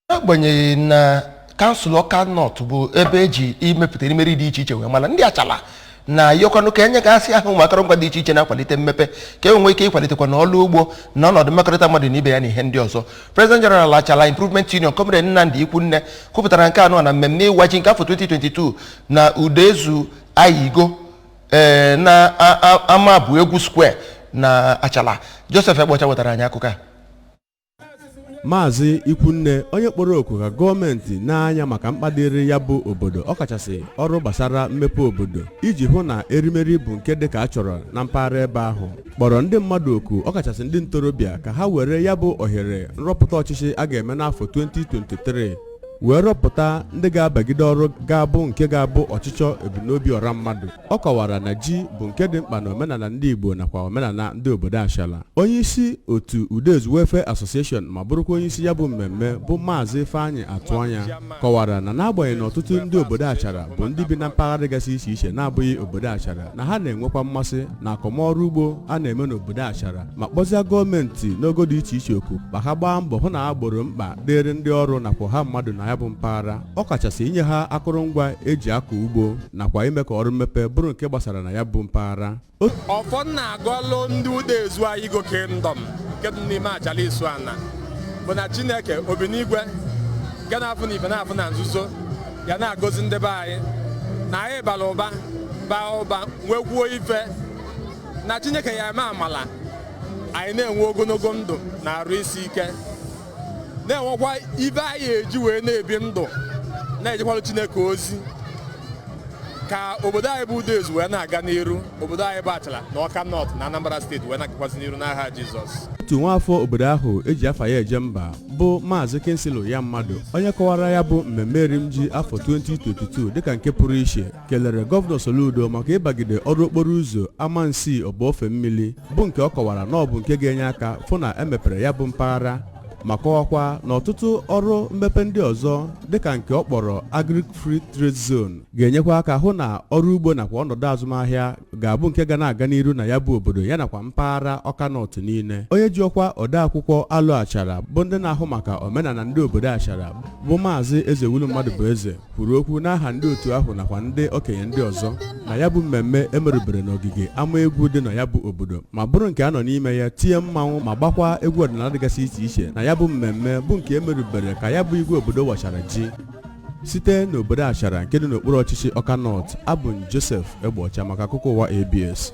n'agbanyeghị na kansụl ọka nọt bụ ebe eji imepụta erimeri dị iche iche wee mara ndị achala na-ayọkwanụ ka enyegasịa ha ụmụ akụrụngwa dị iche iche na-akwalite mmepe ka e nwee ike ịkwalitekwa na ọrụ ugbo na ọnọdụ mmekọrịta mmadụ na ibe ya na ihe ndị ọzọ President General Achala Improvement Union Comrade Nnamdi Ikwunne kwupụtara nke a nọ na mmemme ịwa ji nke afọ 2022 na Udezu Ayigo ee na a- a- ama bụ egwu square na Achala Joseph Egbeọcha wetara anyị akụkọ a maazị ikwunne onye kpọrọ oku ka gọọmenti nee anya maka mkpa dịrị ya bụ obodo ọkachasị ọrụ gbasara mmepe obodo iji hụ na erimeri bụ nke dị ka a chọrọ na mpaghara ebe ahụ kpọrọ ndị mmadụ oku ọkachasị ndị ntorobịa ka ha were ya bụ ohere nrọpụta ọchịchị a ga-eme n'afọ 2023 wee rọpụta ndị ga-abagide ọrụ ga-abụ nke ga-abụ ọchịchọ ebumnobi ọra mmadụ ọ kọwara na ji bụ nke dị mkpa na omenala ndị Igbo nakwa omenala ndị obodo Achala onye isi otu Udezu Welfare Association ma bụrụkwa onye isi ya bụ mmemme bụ Maazị Ifeanyị Atụanya kọwara na n'agbanyeghị na ọtụtụ ndị obodo Achara bụ ndị bi na mpaghara dịgasị iche iche na-abụghị obodo Achara na ha na-enwekwa mmasị na akọmọrụ ugbo a na-eme n'obodo Achara ma kpọzia gọọmenti n'ogo dị iche iche oku ka ha gbaa mbọ hụ na ha gboro mkpa dịrị ndị ọrụ nakwa ọha mmadụ na ya bụ mpaghara ọ kachasị inye ha akụrụngwa eji akọ ugbo nakwa ime ka ọrụ mmepe bụrụ nke gbasara na ya bụ mpaghara ọfọ m na-agọlụ ndị Udezu Ayigo kingdom nke dị n'ime Achala Isuana bụ na chineke obi n'igwe nke na-afụ na ife na-afụ na nzuzo ya na-agọzi ndị be anyị na anyị bara ụba baa ụba nwekwuo ife na chineke ya eme amala anyị na-enwe ogonogo ndụ na arụ isi ike na-enwekwa ife anyị eji wee na-ebi ndụ na-ejekwalụ Chineke ozi ka obodo anyị bụ Udezu wee na-aga n'iru obodo anyị bụ Achala na Ọka North na Anambra steeti wee na-agakwazị n'iru n'aha Jizọs otu nwaafọ obodo ahụ eji afa ya eje mba bụ maazị Kingsley Uyammadụ onye kọwara ya bụ mmemme erimji afọ 2022 dịka nke pụrụ iche kelere gọvanọ Soludo maka ịbagide ọrụ okporo ụzọ Amansi Ọba Ofemmili bụ nke ọ kọwara na ọ bụ nke ga-enye aka fụ na emepere ya bụ mpaghara ma kọwakwa na ọtụtụ ọrụ mmepe ndị ọzọ dịka nke ọ kpọrọ Agric Free Trade Zone ga-enyekwa aka hụ na ọrụ ugbo nakwa ọnọdụ azụmahịa ga-abụ nke ga na-aga n'iru na ya bụ obodo ya nakwa mpaghara Ọka Nọt niile onye ji ọkwa odeakwụkwọ Alụ Achara bụ ndị na-ahụ maka omenala ndị obodo Achara bụ maazị Ezewulu Mmadụbụeze kwuru okwu n'aha ndị otu ahụ nakwa ndị okenye ndị ọzọ na ya bụ mmemme emerubere n'ogige ama egwu dị na ya bụ obodo ma bụrụ nke a nọ n'ime ya tie mmanwụ ma gbakwa egwu ọdịnala dịgasị iche iche na ya bụ mmemme bụ nke emerubere ka ya bụ igwe obodo wachara ji site n'obodo achara nke dị n'okpuru ọchịchị ọka nọt abụ m josef egbeọcha maka akụkọ ụwa abs